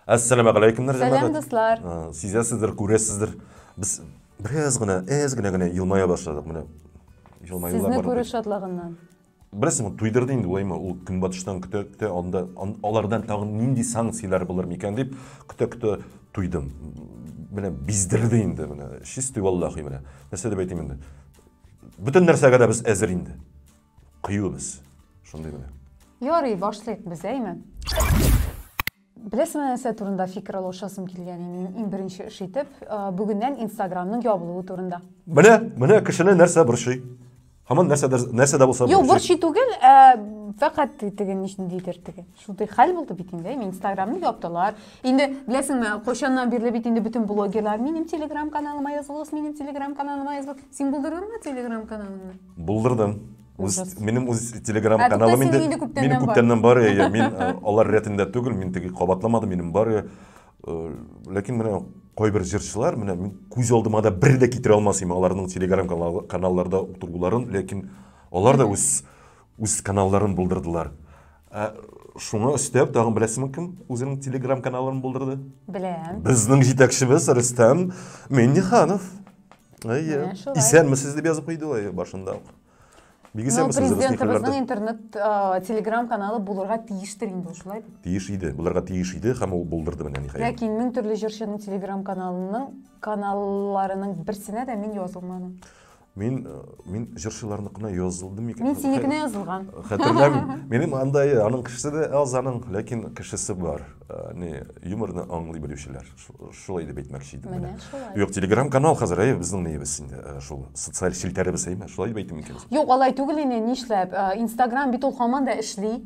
Әссәламә галәйкемнәр, җәмәгать. Сәлам, дуслар. Сизәсездер, күрәсездер. Без бераз гына, әз генә генә елмая башладык менә. Елмаюлар бар. Сезне күрү шатлыгыннан. Беләсеңме, туйдырды инде уйлайма, ул көнбатыштан көтә, көтә, анда алардан тагын нинди санкцияләр булыр микән дип көтә, көтә туйдым. Менә биздерде инде менә. Чистый валлахи менә. Нәрсә дип әйтим инде? Бөтен нәрсәгә дә без әзер инде. Кыюбыз. Шундый менә. Ярый, башлыйк без, әйме? Беләсеңме нәрсә турында фикер алышасым килгән иде минем иң беренче эш итеп, бүгеннән Инстаграмның ябылуы турында. Менә, менә кешене нәрсә борчый? Һаман нәрсәдер нәрсә дә булса борчый. Юк, борчый түгел, ә фәкать теге ничек дидер теге. Шундый хәл булды бит инде. Мин Инстаграмны яптылар. Инде беләсеңме, кайчаннан бирле бит инде бөтен блогерлар минем Телеграм каналыма язылыгыз, минем Телеграм каналыма язылыгыз. Син булдырдыңмы Телеграм каналыңны? Булдырдым. Үз, минем үз Телеграм ә, каналым инде минем күптәннән, күптәннән бар. бар. Я, мин э, алар рәтендә түгел, мин теге кабатламадым, минем бар. Э, ләкин менә кайбер җырчылар, менә мин күз алдыма да бер дә китерә алмас идем аларның Телеграм каналларда утыруларын, ләкин алар да үз үз каналларын булдырдылар. Ә шуңа өстәп тагын беләсеңме кем үзенең телеграм каналын булдырды? Беләм. Безнең җитәкчебез Рөстәм Минниханов. Әйе. Исәнмесез дип язып куйды ул башында ук. Бик исәнмесез Рөстәм. Президентыбызның интернет телеграм каналы булырга тиештер инде шулай. Тиеш иде. Булырга тиеш иде һәм ул булдырды менә ниһаять. Ләкин мең төрле җырчының телеграм каналының каналларының берсенә дә мин язылмадым. Мин мин җырчыларныкына язылдым микән? Мин синекенә язылган. Хәтерләмим. Минем анда аның кешесе дә аз аның, ләкин кешесе бар. Э, не юморны аңлый белүчеләр. Шулай дип әйтмәкче идем менә. Юк, Telegram канал хәзер әй безнең ниебез инде. Э, шул социаль челтәребез әйме? Шулай дип әйтим микән? Юк, алай түгел инде, нишләп? Э, Instagram бит ул хаман да эшли.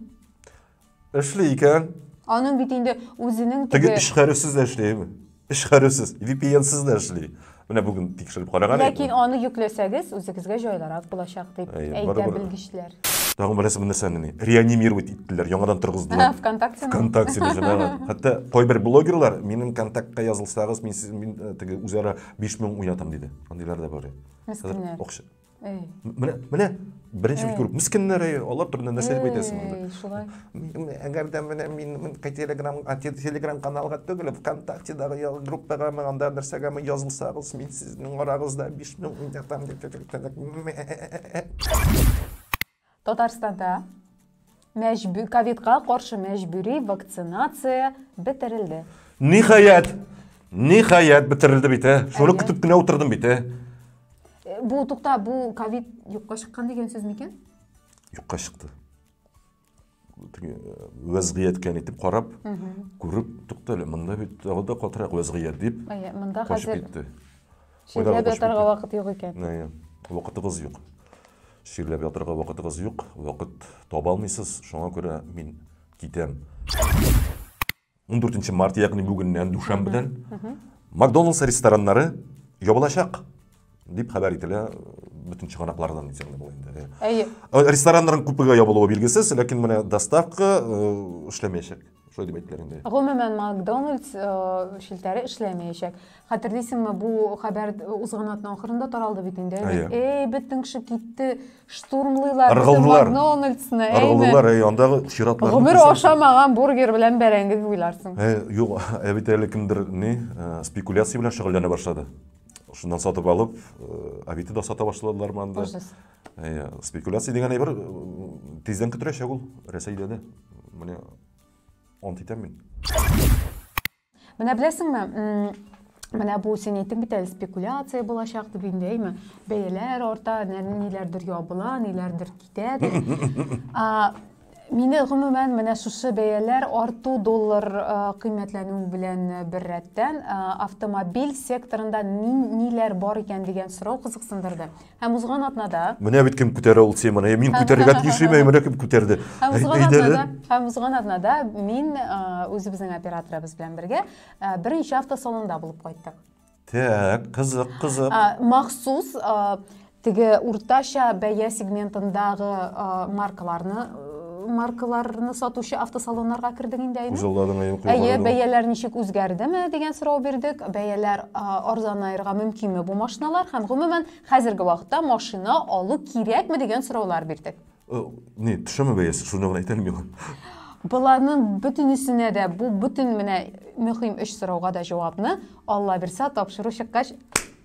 Эшли икән. Аның бит инде үзенең теге... Теге эшхәрүсез дә эшлейме? Эшхәрүсез, VPN-сыз да эшли. Менә бүген тикшереп караган идем. Ләкин аны йөкләсәгез, үзегезгә җайлырак булачак дип әйтә белгечләр. Тагын берәрсе бу нәрсәне ни? Реанимировать иттеләр, яңадан торгыздылар. Вконтакте. Вконтакте җәмәгать. Хәтта кайбер блогерлар минем контактка язылсагыз, мин сез мин теге үзара 5000 уятам диде. Андыйлар да бар. Мескеннәр. Акча. Менә, менә беренче бит күрү. Мискеннәр, алар турында нәрсә дип әйтәсең инде? Шулай. Әгәр дә менә мин мин Telegram, Telegram каналга түгел, ВКонтактедагы группага мен анда нәрсәгә мен язылсагыз, мин сезнең арагызда 5000 миллиард там Татарстанда мәҗбү ковидка каршы мәҗбүри вакцинация бетерелде. Ниһаять! Ниһаять бетерелде бит, ә? Шуны Әллә? көтеп кенә утырдым бит, ә? Э, Бу тукта, бу ковид юкка чыккан дигән сүз микән? Юкка чыкты. теге э, вәзгыятькә нитеп карап күреп тукта әле монда бит тагы да катырак вәзгыять дип монда хәзер китте ширләп ятарга вакыт юк икән вакытыгыз юк ширләп ятарга вакытыгыз юк вакыт таба алмыйсыз шуңа күрә мин китәм 14 март ягъни бүгеннән дүшәмбедән макдоналдс рестораннары ябылачак дип хәбәр ителә бөтен чыганаклардан дисәң дә була инде әйе э, рестораннарның күпегә ябылуы билгесез ләкин менә доставка э, эшләмәячәк шулай дип әйттеләр инде гомумән макдоналдс э, челтәре эшләмәячәк хәтерлисеңме бу хәбәр узган атна ахырында таралды бит инде әйе бөтен кеше китте Штурмлыйлар. Ыргылдылар. Макдональдсны, әйме? Ыргылдылар, әй, андагы чиратларны. Гомер күрсәң- ашамаган бургер белән бәрәңге дип уйларсың. Ә, юк, ә бит әле кемдер ни, ә, спекуляция белән шөгыльләнә башлады. Шуннан сатып алып, ә, Авито да сата башладылармы анда? Ужас. Әйе, спекуляция дигән әйбер м, тиздән көтеләчәк ул Рәсәйдә дә. Менә ант итәм мин. Менә беләсеңме, Менә бу син әйттең бит әле спекуляция булачак дип инде, әйме? Бәяләр арта, ниләрдер ябыла, ниләрдер китә дип. Мине гомумән менә шушы бәяләр арту доллар кыйммәтләнү белән бер рәттән автомобиль секторында ниләр бар икән дигән сорау кызыксындырды. Һәм узган атнада. Менә бит кем күтәрә ул теманы. Мин күтәрергә тиеш име, менә кем күтәрде. Һәм узган атнада, һәм узган атнада мин үзебезнең операторыбыз белән бергә беренче автосалонда булып кайттык. Так, кызык, кызык. Махсус теге уртача бәя сегментындагы маркаларны маркаларны сатучы автосалоннарга кердек инде әйе әйе бәяләр ничек үзгәрдеме дигән сорау бирдек бәяләр арзанаерга мөмкинме бу машиналар һәм гомумән хәзерге вакытта машина алу кирәкме дигән сораулар бирдек э, не төшәме бәясе шуны гына әйтәлем миңа боларның бөтенесенә дә бу бөтен менә мөһим өч сорауга да җавапны алла бирса тапшыру чыккач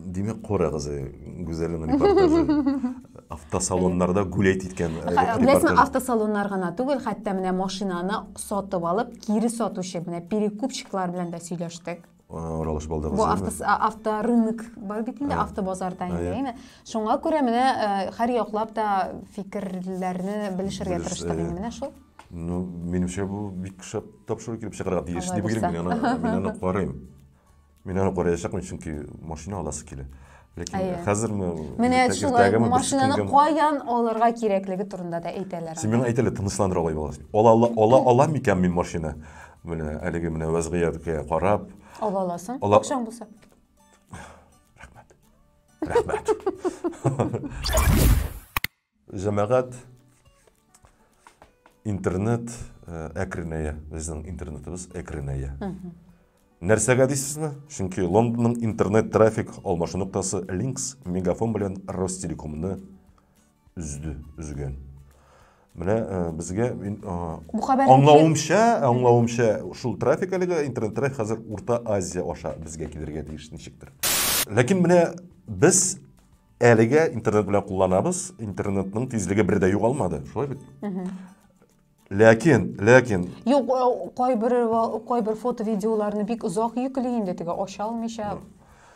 Димәк, Кора кызы Гүзәлнең репортажы. Автосалоннарда гулять иткән э, репортаж. автосалоннар гына түгел, хәтта менә машинаны сатып алып, кире сатучы, менә перекупщиклар белән дә сөйләштек. Ралыш балдыгыз. Бу авто, авто рынок бар бит инде, авто базарда инде, әйме. Шуңа күрә менә э, һәр яклап та фикерләрне белешергә тырыштык инде менә шул. Ну, минемчә бу бик шәп тапшыру килеп чыгарга тиеш дип уйлыйм мин аны, мин аны карыйм. Мин аны караячакмын, чөнки машина аласы килә. Ләкин Әйе. хәзерме? Менә иртәге- шулай иртәгеме, машинаны берсекөнгеме? каян алырга кирәклеге турында да әйтәләр. Син миңа әйт әле, тынычландыр алай булгас. Ала, ала, ала, ала микән мин машина? Менә әлеге менә вәзгыятькә карап. Ала аласың, Ала- акчаң булса. Рәхмәт. Җәмәгать интернет э, әкренәя. Безнең интернетыбыз әкренәя. Нәрсәгә дисезме? Чөнки Лондонның интернет трафик алмашу ноктасы Links мегафон белән Ростелекомны үзде, үзгән. Менә э, безгә мин э, Бу хәбәрне аңлавымча, аңлавымча шул трафик әлеге интернет трафик хәзер Урта Азия аша безгә килергә тиеш ничектер. Ләкин менә без Әлегә интернет белән кулланабыз, интернетның тизлеге бер дә югалмады, шулай бит? Ләкин, ләкин. Юк, кайбер кайбер фото видеоларны бик озак йөкли инде теге ача алмыйча.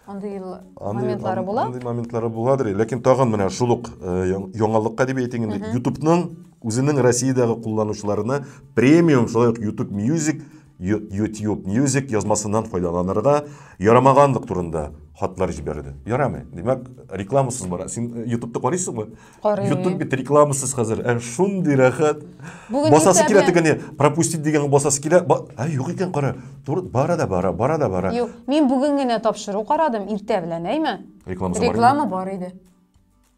Андый моментлары була. Андый моментлары буладыр. Ләкин тагын менә шул ук яңалыкка дип әйтик инде. YouTube-ның үзенең Россиядәге кулланучыларына премиум, шулай ук YouTube Music YouTube Music язмасыннан файдаланырга ярамаганлык турында хатлар җибәрде. Ярамый. Димәк, рекламасыз бара. Син э, YouTube'ты карыйсыңмы? Карыйм. YouTube бит рекламасыз хәзер. Ә шундый рәхәт. Басасы килә тегене пропустить дигән басасы килә. Ә юк икән кара. Туры бара да бара, бара да бара. Юк, мин бүген генә тапшыру карадым, иртә белән, әйме? Рекламасы бар. Реклама бар иде.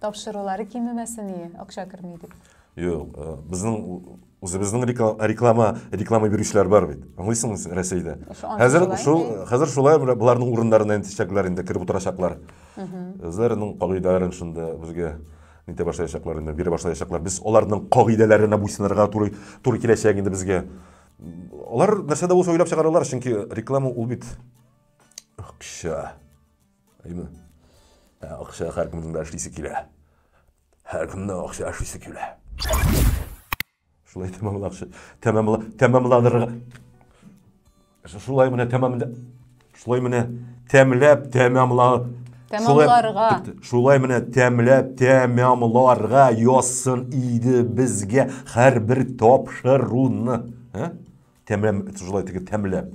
Тапшырулары кимемәсение, акча керми дип. Юк, э, безнең үзебезнең реклама реклама бирүчеләр бар бит. Аңлыйсыңмы син Россиядә? Хәзер шул хәзер шулай боларның урыннарына интешәкләр инде кереп утырачаклар. Үзләренең кагыйдәләрен шунда безгә нитә башлаячаклар инде, бирә башлаячаклар. Без аларның кагыйдәләренә буйсынырга туры туры киләчәк инде безгә. Алар нәрсә дә булса уйлап чыгаралар, чөнки реклама ул бит акча. Әйме? Ә акча һәркемнең дә эшлисе килә. Һәркемнең акча эшлисе килә. Шулай тәмамлакчы. Тәмамла, тәмамланырга. Шулай менә тәмамда. Шулай менә тәмләп тәмамла. Тәмамларга. Шулай менә тәмләп тәмамларга яссын иде безгә һәрбер тапшыруны. Тәмләп, шулай тәмләп.